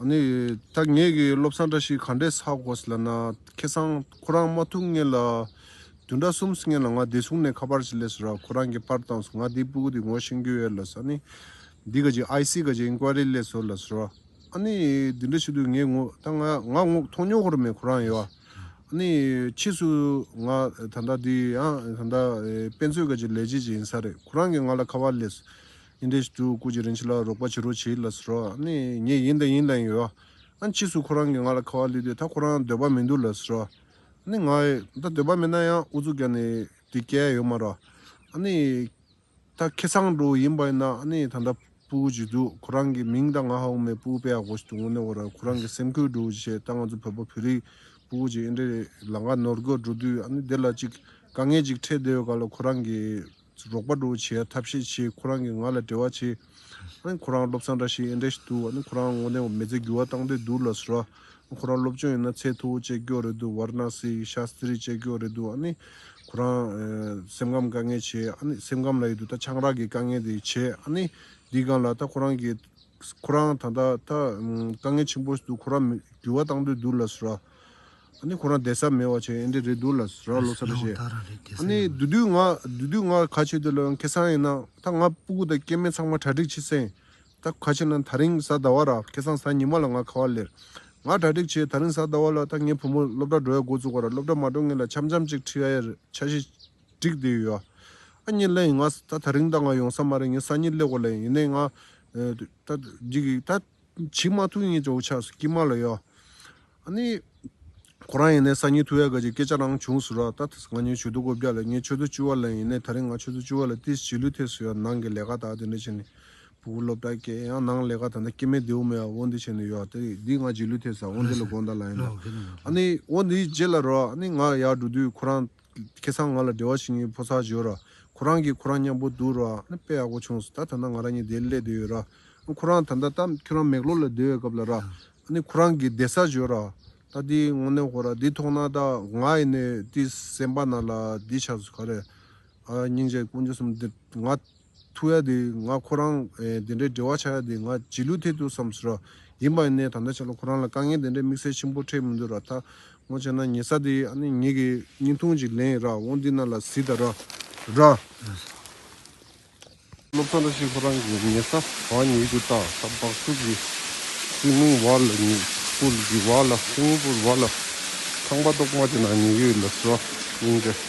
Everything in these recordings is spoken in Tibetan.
ནི། ད་ངེད་ཀྱི་སློབ་ཚང་བཀྲ་ཤིས་ག་འདྲས་ས་གོ་སི་ལ་ན། ཁེ་སང། ཁོ་རང་མ་ཐུག་ངེད་ལ། དུད་འདྲ་སུམ་སི་ངེད་ལ་ང་བདེ་སུང་ནས་ཁ་པར་སི་ལས་སི་ར་ཁོ་རང་གི་པར་བཏང་སི་ང་དེ་པུཀུ་དེ་ངོ་ཤེང་གི་ཡོད་ལ་སི་ཨ་ནི། འདི་ག་ཅིག IC ག་ཅིག Inquiry ལས་སོ་ལ་སི་ར། ཨ་ནི། དེ་འདྲ་ཞིག་དུ་ངེད་ངོ་ད་ང་ང་ངོ་མཐོང་ཉོག་ཧོར་མེད་ཁོ་རང་ཡོད། ཨ་ནི། ཕྱིས་སུ། ང་ད་ད་དེ་ཡང་ད་ད་དཔེ་མཛོད་ག་ཅིག་ལས་བྱེད་ཅིག་ཡིན་ས་རེད་ཁོ་རང་གི་ང་ལ་ཁ་པར་ལས་སི། ཨིན་རྡེ་ཞི་ཏུ་ཀུ་ཇི་རིན་ཆི་ལ་རོགས་པ་བྱེད་རོགས་བྱེད་ལ་སོ་ནི་ངས་ཡིན་དང་ཡིན་དང་ཡོད་ཨ་ཕྱིས་སུ་ཁོ་རང་གིས་ང་ལ་ཁ་བ་བསླུས་ཏེ་ད་ཁོ་རང་འདོད་པ་མི་འདུག་ལ་སོ་ནི་ང་ད་འདོད་པ་མེད་ན་ཡང་ཨུ་ཚུགས་རྒྱག་ནི་དེ་སྐལ་ཡོད་མ་ར་ཨ་ནི་ད་ཁེ་སང་འགྲོ་ཡིན་པ་ཡིན་ན་ཨ་ནི་ད་ད་པུ་ཀུ་ཇི་འདུག་ཁོ་རང་གིས་མིང་ད་ང་ཧ་ཨུ་མེ་པུ་ཨུ་པེ་ཨ་གོ་ཞིག་ཏུ་ངོ་ནི་འོ་ར་ཁོ་རང་གིས་སེམས་ཁུར་འགྲོ་ཞེས་ད་ང་ཚོ་བོད་པ་བོད་རིགས་པུ་ཀུ་ཇི་ཨིན་རྡེ་ལ་འགའ་ནོར་དགོས་འགྲོ་དུས་ཨ་ནི་དེ་ལ་ཅིག་དཀའ་ངལ་ཅིག་འཕྲད་བདེ་བའི་སྐབས་ལ་ཁོ་རང་གིས། རོགས་པ་འགྲོ་བྱེད་ཡ་ཐབས་ཤེས་བྱེད་ཁོ་རང་གིས་ང་ལ་བྲེལ་བ་ཆེ། ཁོ་རང་སློབ་ཚན་འདྲ་ཞིག་ཨེ་འདྲ་ཞིག་འདུག་ཁོ་རང་དངོས་གནས་མི་ཚེ་འགྱུར་བ་བཏང་འདོད་འདུག་ལ་ཟུར། ཁོ་རང་སློབ་སྤྱོང་ཡིན་ན་ཚད་མཐོ་བོ་སྤྱད་ཀྱོག་རེད་འདུག་བར་ན་སི་ཤ་སི་རི་སྤྱད་ཀྱོག་རེད་འདུག་ཁོ་རང། སེམས་ཁམས་དཀའ་ངལ་ཆེ། སེམས་ཁམས་ལ་ཡོད་དུ་ད་ཆང་རག་གི་དཀའ་ངལ་དེ་ཆེ། འདི་གང་ལ་ད་ཁོ་རང་གིས། ཁོ་རང་ད་ད་དཀའ་ངལ་ཆེན་པོ་ཞིག་འདུག་ཁོ་རང་འགྱུར་བ་བཏང་འདོད་འདུག་ལ་ཟུར། ཨ་ནི་ཁོ་རང་དད་ས་མེད་བ་ཆེ་ཨེ་འདྲ་རེད་འདུག་ལ་ར་ལོ་ཚ་རེད་བཤད། ཨ་ནི་དུས་དུས་ང་དུས་དུས་ང་ག་ཆོད་དེ་ལོས་ཁེ་སང་ཡིན་ན་ད་ང་སྤུ་གུ་དང་སྐྱེས་མེད་ཚང་མ་གྲ་སྒྲིག་བྱེད་སེང་ད་ག་ཆེ་ན་ད་རིང་གཟའ་ཟླ་བ་ར་ཁེ་སང་གཟའ་ཉི་མ་ལ་ང་ག་བ་ལེར་ང་གྲ་སྒྲིག་བྱེད་ད་རིང་གཟའ་ཟླ་བ་ལ་ད་ངའི་བུ་མོ་སློབ་གྲ་འགྲོ་ཡ་འགོ་བཙུགས་བ་ར་སློབ་གྲ་མ་འགྲོ་ངེད་ལ་འཆམ་འཆམ་ཅིག་ཁྲི་ཡ་ཡ་རེད་ཆ་ཤས་སྒྲིག་དེ་ཡོད་ཨ་ཨ་ཉི་ལེ་ཡིན་ང་ད་ད་རིང་ད་ང་ཡོང་ས་མ་རེད་ངའི་སང་ཉིན་སླེ་གོ་ལེ་ཡིན་ནས་ང་ད་འགྱིག་གིས་ད། བྱིས་མ་ཐུགས་ངེས་ཅོག་ཆགས་སུ་སྐྱིད་མ་ལོས་ཡོད། ཨ་ནི། ཁོ་རང་ཡིན་ནའི་གསར་ཉིན་ཐུ་ཡ་ག་ཅིག་སྐད་ཆ་རང་བྱུང་ཟུར་ར་ད་ཐེས་ང་ཉོན་ཆོས་དུ་སྒོ་བརྒྱ་ལས་ངས་ཆོས་དུ་བཅུ་བ་ལོན་ཡིན་ནའི་ད་རིང་ང་ཆོས་དུ་བཅུ་བ་ལས་ཏིས་བྱིས་ལུས་ཐེས་སུ་ཡོད་ནང་གི་ལས་ཀ་དག་དེ་འདྲ་བྱས་ནས་བུ་གུ་སློབ་གྲྭ་སྐྱེལ་ཡང་ནང་ལས་ཀ་ད་ལྟ་སྐྱེལ་མའི་རྡེའུ་མེ་བ་འོ་འདི་བྱས་ནས་ཡོད་ད་རེད་འདི་ང་བྱིས་ལུས་ཐེས་ས་འོ་འདི་ལ་དགོངས་དག་ལ་ཡིན་ད་ཨ་ནི་འོ་འདི་རྗེས་ལ་རོགས་ཨ་ནི་ང་ཡར་འགྲོ་དུས་ཁོ་རང། ཁྱེད་ཚང་ང་ལ་བདེ་བ་ཞིག་ཡིན་ཕོ་སར་བྱོས་ར། ཁོ་རང་གིས་ཁོ་རང་མཉམ་པོ་འདུག་ར། དཔེ་ཡག་པོ་བྱུང་སོ་ད་ད་ནང་ང་རང་གཉིས་བསྡད་སླེ་བསྡད་ཡོད་ར། ཁོ་རང་ད་ད་ད་ཁྱོད་རང་མེག་ལོ་ལ་བསྡད་ཡོད་སྐབས་ལ་ར། ཁོ་རང་གིས་བསྡད་སར་བྱོས་ར། ད་དེ་ངོ་གནས་ཧོ་ར་དེ་ཐོག་ན་ད་ང་ཡིན་ནའི་དེ་སེམས་པ་ན་ལ་དེ་ཆགས་སོ་ག་རེ། སྙིང་རྗེ་དཀོན་མཆོག་གསུམ་འདིར་ང། ཐུག་ཡ་དེ་ང་ཁོ་རང་དེ་འདྲའི་འབྲེལ་བ་ཆགས་ཡ་དེ་ང་བྱིས་ལུས་ཐད་དུ་བསམ་ཟོས་ར་ཡིན་པ་ནས་ད་ལྟ་ཆ་ལོ་ཁོ་རང་ལ་དཀའ་ངལ་དེ་འདྲའི་དམིགས་བསལ་ཆེན་པོ་འཕྲད་མི་འདུག་ར་ད་ངོ་བྱས་ན་ཉེ་ས་དེ་ཨ་ནེ་ངེད་ཀྱི་སྙིང་ཐུང་ཅིག་ལེན་ར་འོང་འདི་ན་ལ་གཟིགས་ད་ར་ར། སློབ་ཚོགས་འདྲ་ཞིག་ཁོ་རང་གི་ཉེ་ས་བ་ཉིད་ཀྱི་ཏག་ཏག་སྦག་བཙོག་གི་སྲིང་མོ་བ་ལ་ཉིད་སྤུར་གྱི་བ་ལ་སྲིང་མོ་སྤུར་བ་ལ་ཁང་པ་ཏོག་མ་དེ་ན་ཉེ་ཡོད་ལ་བཟོ་སྙིང་འདྲ།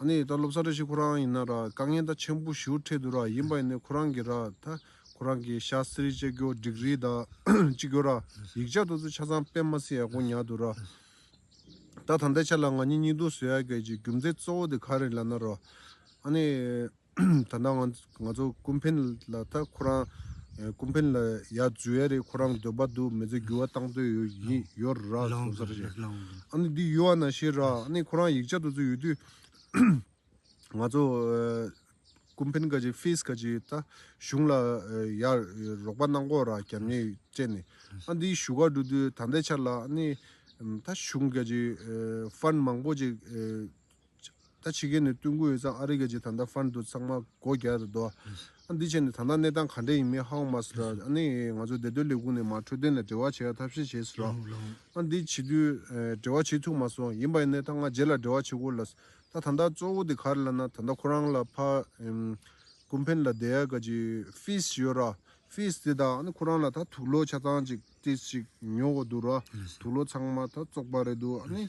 ཨ་ནི་ད་སློབ་གསར་རེ་ཞིག་ཁོ་རང་ཡིན་ན་ར་དཀའ་ངལ་ད་ཆེན་པོ་ཞུ་འཕྲད་འདུག་ར་ཡིན་པ་ཡིན་ནའི་ཁོ་རང་གི་ར་ད་ཁོ་རང་གི་ཤ་སི་རི་ཅེ་ཀྱོ་འགྲིག་རི་ད་ཅི་ཀྱོ་ར་ཡིག་ཆ་དུ་ཚུ་ཆ་ཚང་དཔེ་མ་སི་ཡ་ཀོ་ཉག་འདུག་ར། ད་ད་ལྟའི་ཆ་ལ་ང་གཉིས་གཉིས་འདུག་ཟོ་ཡ་གད་ཀྱི་རྒྱུ་མཚན་གཙོ་བོ་དེ་ག་རེ་ལ་ན་ར་ཨ་ནི། ད་ནངས་ང་ཚོ་ཀུན་ཕན་ལ་ད་ཁོ་རང་ཀུན་ཕན་ལ་ཡ་རྫུས་ཡ་རེད་ཁོ་རང་འདོད་པ་འདུག་མི་ཚེ་འགྱུར་བ་བཏང་འདོད་ཡོད་ཡིན་ཡོད་ར་བྱུང་ས་རེད་ཨ་ནི་འདི་ཡུལ་བ་ན་ཤེས་ར་ཨ་ནི་ཁོ་རང་ཡིག་ཆ་དུ་ཚོད་ཡོད་དུས་ང་ཚོ་ཀུན་ཕན་ག་ཅིག་ཕིས་ག་ཅིག་ད་གཞུང་ལ་ཡ་རོགས་པ་གནང་གོ་ར་རྒྱབ་གཉེར་སྤྲད་ནས་ཨ་འདི་བཞུགས་སྒར་འགྲོ་དུས་ད་ལྟའི་ཆར་ལ་ཨ་ནི་ད་གཞུང་ག་ཅིག་ཧྥན་མང་པོ་ཅིག་ད་ཕྱི་རྒྱལ་ནས་སྟོན་ཀུན་ཡོད་ཙང་ཨ་རི་རྒྱལ་སྤྱིའི་ད་ལྟ་ཧྥན་དུ་ཚང་མ་སྒོ་རྒྱག་རེད་འདུག་ཨ་འདི་བྱས་ནས་ད་ལྟ་གནས་སྟངས་ག་འདྲ་ཡིན་མིན་ཧའོ་མ་སི་ར་ནས་ང་ཚོའི་བདེ་དོན་ལས་ཁུངས་ནས་མ་འཕྲོད་དོན་ལ་འབྲེལ་བ་བྱེད་ཡག་ཐབས་ཤེས་བྱེད་སི་རོག་ཨ་འདི་བྱེད་དུས་འབྲེལ་བ་བྱེད་ཐུབ་མ་སོང་ཡིན་པ་ཡིན་ནའི་ད་ང་རྗེས་ལ་འབྲེལ་བ་བྱེད་དགོས་ལ་ད་ད་ད་གཙོ་བོ་དེ་ག་རེད་ལ་ན་ད་ད་ཁོ་རང་ལ་ཕ་ཀུན་ཕན་ལ་དེ་ཡག་ག་ཅིག་ཧྥིས་ཡོད་ར་ཧྥིས་དེ་ད་ཨ་ནི་ཁོ་རང་ལ་ད་དུག་ལོ་ཆ་ཚང་ཅིག་ཏིས་ཅིག་ཉོ་གོ་འདུག་ར་དུག་ལོ་ཚང་མ་ད་བཙོག་པ་རེད་འདུག་ཨ་ནི།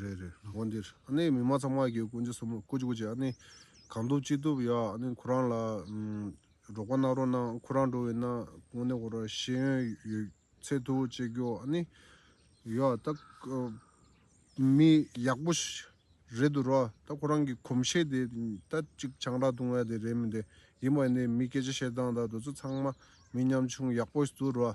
རེད་རེད་དགོན་འདིར་ཨ་ནེ་མི་མ་ཚང་མ་གིས་ཀུན་ཅི་གསུང་མོད་ཀུ་ཅི་ཀུ་ཅི་ཨ་ནེ་གང་ཐུབ་ཅི་ཐུབ་ཡག་ཨ་ནེ་ཁོ་རང་ལ་རོགས་པ་གནང་རོགས་གནང་ཁོ་རང་འགྲོ་བའི་ན་དགོན་ནས་ཧོར་ར་ཤེས་ཡོན་ཡོད་ཚད་ཐུགས་བཅད་རྒྱོ་ཨ་ནེ་ཡོ་ད་མི་ཡག་པོ་རེད་འདུག་རོ་ད་ཁོ་རང་གི་གོམས་གཤེས་དེ་ད་ཅིག་ཆང་རག་བཏུང་བ་དེ་རེད་མི་འདེ་ཡིན་པ་ནས་མི་སྐད་ཆ་བཤད་སྟངས་དང་འདོད་ཚུལ་ཚང་མ་མི་ཉམ་ཆུང་ཡག་པོ་འདུག་རོ་ཨ་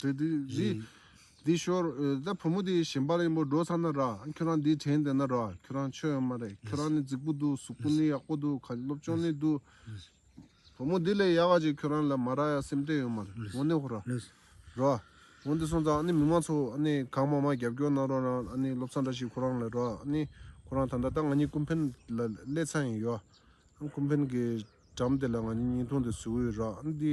དེ་དེ་དེ་དེ་ཤོར། ད་བུ་མོ་དེ་ཞིམ་པ་ལ་ཡིན་པོ་འགྲོ་ཚར་ན་ར་ཁྱོད་རང་དེ་དྲན་བསྡད་ན་ར་ཁྱོད་རང་ཆོས་ཡོད་མ་རེད་ཁྱོད་རང་ནི་རྫིག་པོ་འདུག་གཟུགས་པོ་ནི་ཡག་པོ་འདུག་ག་སློབ་སྤྱོང་ནི་འདུག་བུ་མོ་དེ་ལས་ཡག་ག་ཅིག་ཁྱོད་རང་ལ་མ་ར་ཡ་སེམས་ཏད་ཡོད་མ་རེད་འོ་ནི་ཧོ་ར་ར་འོ་འདི་སོང་ཙང་ཨ་ནི་མི་མང་ཚོ་ཨ་ནི་གང་མང་མང་རྒྱབ་སྐྱོར་གནང་རོགས་གནང་ཨ་ནི་སློབ་ཚང་འདྲ་ཞིག་ཁོ་རང་ལ་ར་ཨ་ནི་ཁོ་རང་ད་འདྲ་ད་ང་གཉིས་ཀུན་ཕན་ལ་སླད་ཚང་ཡིན་ཡོ་ཨ་ཀུན་ཕན་གི་གྲམ་དེ་ལ་ང་གཉིས་ཉིན་ཐུང་དེ་བཟོས་ཡོད་ར་ཨ་ནི་དེ་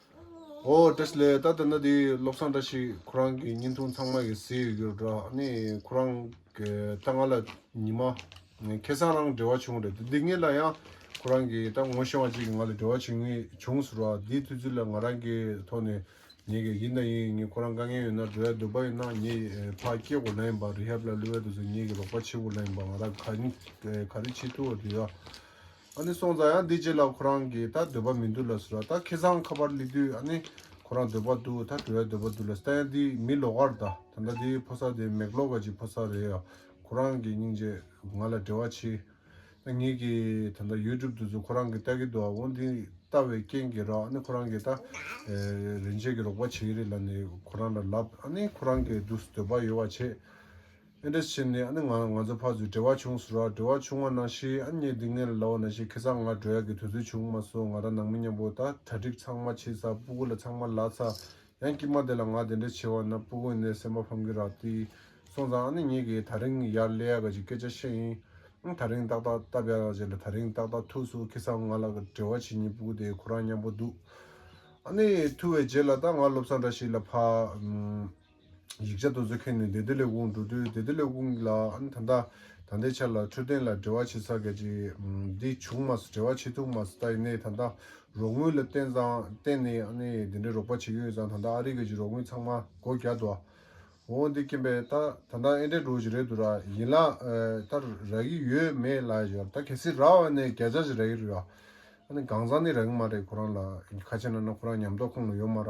ཨོ་ཀྲེ་ཤི་ལའི་ད་དེ་འདྲ་དེ་བློ་བཟང་འདྲ་ཞིག་ཁོ་རང་གི་བརྙན་ཐུང་ཚང་མ་གི་ཟེར་ཡོད་རེད་དྲ་ནས་ཁོ་རང་གི་ད་ང་ལ་ཉི་མ་ཁེ་སང་རང་འབྲེལ་བ་བྱུང་རེད་འདི་ངེད་ལ་ཡང་ཁོ་རང་གི་ད་ངོ་ཤེས་བ་ཅིག་གི་ང་ལ་འབྲེལ་བ་བྱུང་ངེས་བྱུང་ཟེར་བ་དེའི་དུས་ཚོད་ལ་ང་རང་གི་ཐོག་ནས་ཉེས་གི་ཡིན་ད་ཡིན་ངས་ཁོ་རང་དཀའ་ངལ་ཡོད་ན་འབྲེལ་བ་འདོད་པ་ཡིན་ན་ངས་ཕ་སྐྱེ་དགོས་ལ་ཡིན་པ་རི་ཧབ་ལ་ལུས་བ་དུས་སུ་ངེད་གི་རོགས་པ་བྱེད་དགོས་ལ་ཡིན་པ་ང་རང་ག་རེ་བྱེད་ཐུབ་བ་དེ་ཡོད། ཨ་ནི་སོང་ཙང་ཡང་འདི་རྗེས་ལ་ཁོ་རང་གིས་ད་འདོད་པ་མི་འདུག་ལ་ཟེར་བ་ད་ཁེ་བཟང་ཁ་པར་ལི་དུས་ཨ་ནི་ཁོ་རང་འདོད་པ་འདུག་ད་བྲོ་བའི་འདོད་པ་འདུག་ལ་ཟེར་ད་ཡང་འདི་མི་ལོ་གར་ད་ད་ལྟ་འདི་ཕོ་སར་དེ་མེག་ལོ་ག་ཅིག་ཕོ་སར་རེད་ཡ་ཁོ་རང་གིས་སྙིང་རྗེ་ང་ལ་འབྲེལ་བ་བྱས་ད་ངེད་ཀྱིས་ད་ད་ཡུལ་གྲུབ་འདུག་ཚུལ་ཁོ་རང་གིས་ལྟ་གི་འདུག་འོ་འདི་ལྟ་བའི་རྐྱེན་གྱིས་རོགས་ཨ་ནི་ཁོ་རང་གིས་ད་རིན་ཆེན་གྱི་རོགས་པ་བྱེད་ཀྱི་རེད་ལ་ནི་ཁོ་རང་ལ་ལབ་ཨ་ནི་ཁོ་རང་གིས་འདུག་འདོད་པ་ཡོད་བ་བྱས། ཨེ་འདྲ་བྱས་ནས་ཨ་ནི་ང་ང་ཚོ་ཕ་ཚོས་བྲེལ་བ་བྱུང་ཟུར་བ་བྲེལ་བ་བྱུང་བ་ནང་ཤི་ཨ་མྱེས་སྡིག་ངན་ལ་ལའོ་ན་ཤི་ཁེ་ཚང་ང་བྲོ་ཡག་གི་དུས་ཚོད་བྱུང་མ་སོ་ང་རང་ནང་མི་མཉམ་པོ་ད་གྲ་སྒྲིག་ཚང་མ་བྱེད་ཚ་སྤུ་གུ་ལ་ཚང་མ་ལ་ཚ་ཡང་སྐྱིད་མ་དེ་ལ་ང་དེ་འདྲ་བྱས་བ་ན་སྤུ་གུ་ནས་སེམས་པ་ཕམ་གི་རག་ཏི་སོང་ཙང་ཨ་ནི་མྱེས་ཀྱིས་ད་རིང་ཡར་སླེ་ཡག་གི་ཅིག་སྐད་ཆ་བཤད་ཡིན་ཨང་ད་རིང་ཏག་ཏག་སྟབས་ཡག་བྱས་ལ་ད་རིང་ཏག་ཏག་ཐུགས་སུ་ཁེ་ཚང་ང་ལ་བྲེལ་བ་བྱེད་ཉིན་སྤུ་གུ་དེ་ཁོ་རང་མཉམ་པོ་འདུག་ཨ་ནི་ཐུགས་བའི་རྗེས་ལ་ད་ང་སློབ་ཚང་འདྲ་ཞིག་ལ་ཕ། ཡིག་ཆ་དོ་བཟོ་མཁན་ནི་བདེ་སྡོད་ལས་ཁུངས་འགྲོ་དུས་བདེ་སྡོད་ལས་ཁུངས་ལ་ཨང་ད་ལྟ་ད་ལྟའི་ཆར་ལ་འཕྲོད་བསྟེན་ལ་འབྲེལ་བ་བྱེད་ས་གལ་ཆེ། འདི་བྱུང་མ་སོང་འབྲེལ་བ་བྱེད་ཐུབ་མ་སོང་ད་ཡིན་ནའི་ད་ལྟ་རོགས་དངུལ་ལ་བརྟེན་ཙང་བརྟེན་ནས་ཨ་ནི་དེ་འདྲའི་རོགས་པ་བྱེད་ཀྱི་ཡོད་ཙང་ད་ལྟ་ཨ་རི་ག་གི་རོགས་དངུལ་ཚང་མ་སྒོ་བརྒྱག་འདུག་ཨ། འོ་འདི་རྐྱེན་པས་ད་ད་ནངས་ཨེ་འདྲས་འགྲོ་གི་རེད་འདུག་ར་ཡིན་ལ་ད་རག་གི་ཡོད་མེད་ལ་ཡོད་ད་གལ་སྲིད་རག་ཨ་ནི་བརྒྱ་ཆ་བཞི་རག་གི་རེད་ཨ་ནི་གང་ཙང་ནི་རག་གི་མ་རེད་ཁོ་རང་ལ་ཁ་ཆེ་ན་ན་ཁོ་རང་ཉམས་རྟོགས་ཁོང་ལ་ཡོད་མ་ར་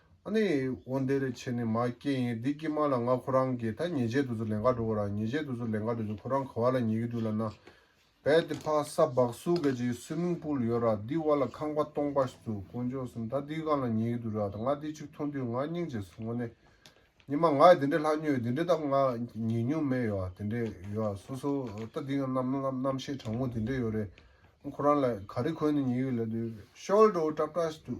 ཨ་ནི། འོ་འདི་རེ་ཆེ་ནི་མ་སྐྱེས་ཡིན་འདི་སྐྱེས་མ་ལ་ང་ཁོ་རང་གི་ད་ཉེས་ཆད་དུ་ཚུར་ལན་ཁ་འགྲོ་གོ་ར་ཉེས་ཆད་དུ་ཚུར་ལན་ཁ་འགྲོ་ཅིང་ཁོ་རང་ག་བ་ལ་ཉེས་ཀྱི་འདུག་ལ་ན། བས་ཏེ་ཕ་ས་བག་སུ་ག་ཅིག་སུའིམིང་པུལ་ཡོད་ར་འདི་བ་ལ་ཁང་པ་སྟོང་པ་ཞིག་འདུག་དཀོན་མཆོག་གསུམ་ད་འདི་གང་ལ་ཉེས་ཀྱི་འདུག་ར་ད་ང་འདི་ཅིག་མཐོང་དུས་ང་སྙིང་རྗེ་སོང་ངོ་ནི། ཉི་མ་ང་ཡི་འདི་འདྲའི་ལྷ་སྨྱོན་ཡོད་འདི་འདྲའི་ད་ང་ཉེས་སྨྱོན་མེད་ཡོད་ར་དེ་འདྲའི་ཡོད་ར་སོ་སོ་ད་འདི་ང་རྣམ་རྣམ་ཤེས་དྲང་མོ་དེ་འདྲའི་ཡོད་རེད་ང་ཁོ་རང་ལ་ག་རེ་གོན་ནི་ཉེས་ཡོད་ལ་དུས་ཤོལ་དུ་བཀྲ་བཀྲ་ཞིག་འདུག་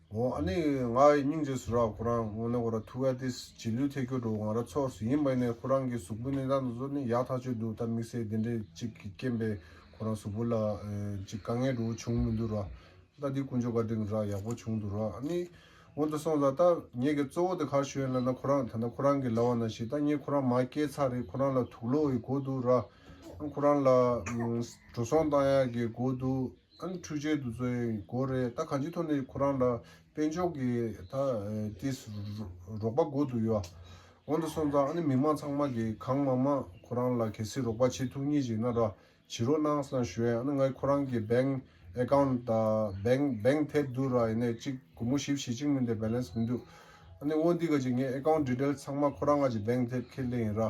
ངོ་ཨ་ནི་ང་ཡི་སྙིང་རྗེ་སུ་རག་ཁོ་རང་ངོ་ནི་ཁོ་ར་ཐུ་ཨ་ཏི་སི་ཇི་ལུས་ཐེ་ཁྱོ་དྲོ་ང་ར་ཚོགས་སུ་ཡིན་པ་ནས་ཁོ་རང་གི་གཟུགས་པོའི་གནས་སྟངས་དང་ཟུར་ནི་ཡག་ཐག་ཆོད་འདུག་ད་དམིགས་བསལ་དེ་འདྲས་ཅིག་གི་རྐྱེན་པས་ཁོ་རང་གཟུགས་པོ་ལ་ཅིག་དཀའ་ངལ་དྲོ་བོ་བྱུང་མི་འདུག་ར་ད་དེ་ཀུན་ཇོ་ག་འདྲེང་ར་ཡག་པོ་བྱུང་འདུག་ར་ཨ་ནི་ངོ་ད་སོང་ད་ད་ངེད་གི་གཙོ་བོ་དེ་གར་ཤོད་ལ་ན་ཁོ་རང་ད་ད་ཁོ་རང་གི་ལ་བ་ན་ཤི་ད་ངེད་ཁོ་རང་མ་སྐྱེས་ཚར་རེད་ཁོ་རང་ལ་དུག་ལོ་ཡི་གོ་འདུག་ར་ཨ་ཁོ་རང་ལ་འགྲོ་སོང་བཏང་ཡག་གི་གོ་འདུག། ཨང་འཕྲུལ་ཆས་དུ་ཚོད་དགོས་རེད་ད་གང་ཅི་ཐོག་ནས་ཁོ་རང་ལ་དཔལ་འབྱོར་གྱི་ད་ཏིས་རོགས་པ་དགོས་འདུག་ཡོ་འོང་དུ་སོང་ཙང་ཨ་ནི་མི་མང་ཚང་མ་གིས་གང་མང་མང་ཁོ་རང་ལ་གལ་སྲིད་རོགས་པ་བྱེད་ཐུག་ངེས་ཅིག་ན་ར་བྱིས་རོགས་གནང་སང་ཞོས་ཨ་ནི་ང་ཁོ་རང་གི bank account ད bank bank ཐད་དུ་ར་ཡིན་ནས་ཅིག་གུ་མོ་ཞིབ་བྱེད་ཅིག་མིན་དེ balance མིན་འདུག་ཨ་ནི་བོ་འདི་ག་ཅིག་ངའི account detail ཚང་མ་ཁོ་རང་ང་ཅིག bank ཐད་ཁས་ལེན་ཡིན་ར